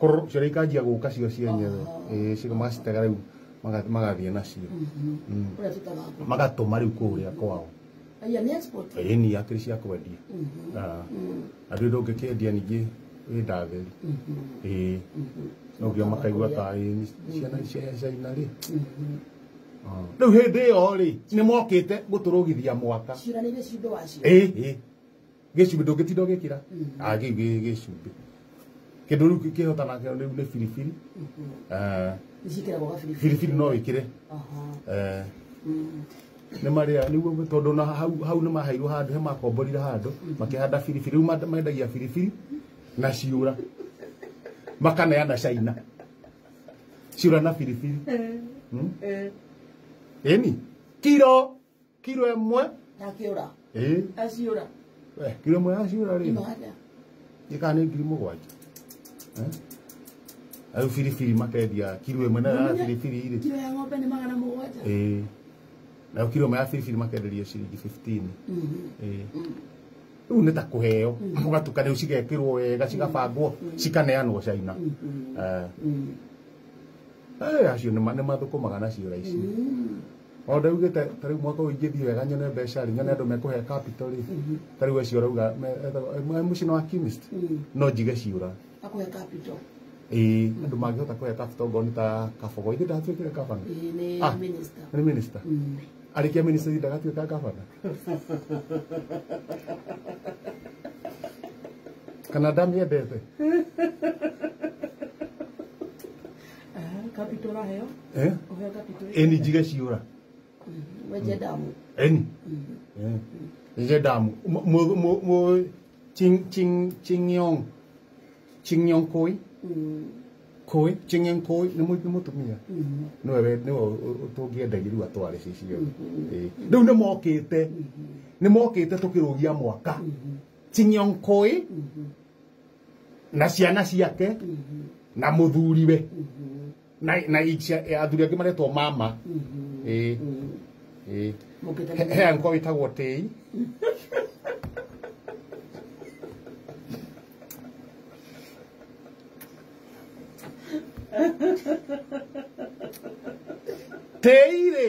kũrũ cio ikanjia gũka cio cienyewe ĩĩ cio magacitega rĩu maga- magathiĩ nacio Mm. kũrĩa tũtaga ngũkũ magatũma rĩu kũrĩa kwao aya nĩ export ĩĩ ni akĩrĩ cia kwendia Mhm. Ah. Mm. andũ ĩndũ ũngĩkĩendia ningĩ ĩ ndatheri Mhm. ĩĩ Mhm. nogio makaigua ta ĩĩ ni ciana cia caina rĩ Mhm. rĩu hĩndĩ ĩyo rĩ nĩ mokĩte gũtũrũgithia mwaka ciranĩire cindo wacio ĩĩ ĩĩ gĩcumbĩ ndũngĩtinda ũgĩkĩra Ah, kĩu gĩ- gĩcumbĩ kĩndũ rĩu kĩhotana kĩo rĩu nĩ biribiri Eh, Nĩciĩkĩragwo gabiribiri. biribiri no wĩkĩre Aha. Eh, Mm. nĩ marĩa nĩguo tondũ na hau hau nĩ maheirwo handũ he makomborire handũ makĩhanda biribiri rĩu manda- mendagia biribiri na ciũra makaneana caina ciũra na biribiri Eh, Mm. eh. ĩni kiro kiro ĩmwe ndakiura ĩĩ aciura we kiro ĩmwe yaciũra rĩ imada ĩkaa nĩ ngiri mũgwanja Eh? rĩu biribiri makendia kiro ĩmwe nayo ya biribiri rĩ kiro ya ng'ombe nĩ magana mũgwanja ĩĩ nayo kiro ĩmwe ya biribiri makenderia ciringi 15 Ĩĩ. rĩu nĩ ta kũheo ũgatukanio cigekĩrwo wega cigabangwo cikaneanwo caina Eh. Eh, acio nĩ ma- nĩ mathũkũmaga na ciũra ici o ndaugĩte ta rĩu mwaka ũyũ ingĩthiĩ wega nyone mbeca rĩ nyone andũ mekũhe capital rĩ ta rĩu acio arauga mũcino wa chemist no njige ciũra akũhe capital ĩĩ andũ mangĩhota kũhe capital ngoni ta kabogo ithe ndatuĩkire gavana Ĩĩ, nĩ Ah. minister nĩ minister Mm. arĩkia minister ithe ndagatuĩka gavana kana ndamĩendete kapitũra heo eh ũheo kapitũra eni njige ciũra wenje damu eni eh njige damu mu mu- mu mu- ching ching chingyong chingyong koi Mm, koi chingyong koi nĩ mu- nĩ mũtumia mm, nĩwe we- nĩwe tũngĩendagia rĩu atware cicio Eh, rĩu nĩ mokĩte nĩ mokĩte tũkĩrũgia mwaka chingyong koi mhm, na ciana ciake na muthuriwe na na icia- athuri angĩ maretwo mama ĩĩ ĩĩ He- he angĩkorwo wĩtagwo tĩi tĩi rĩ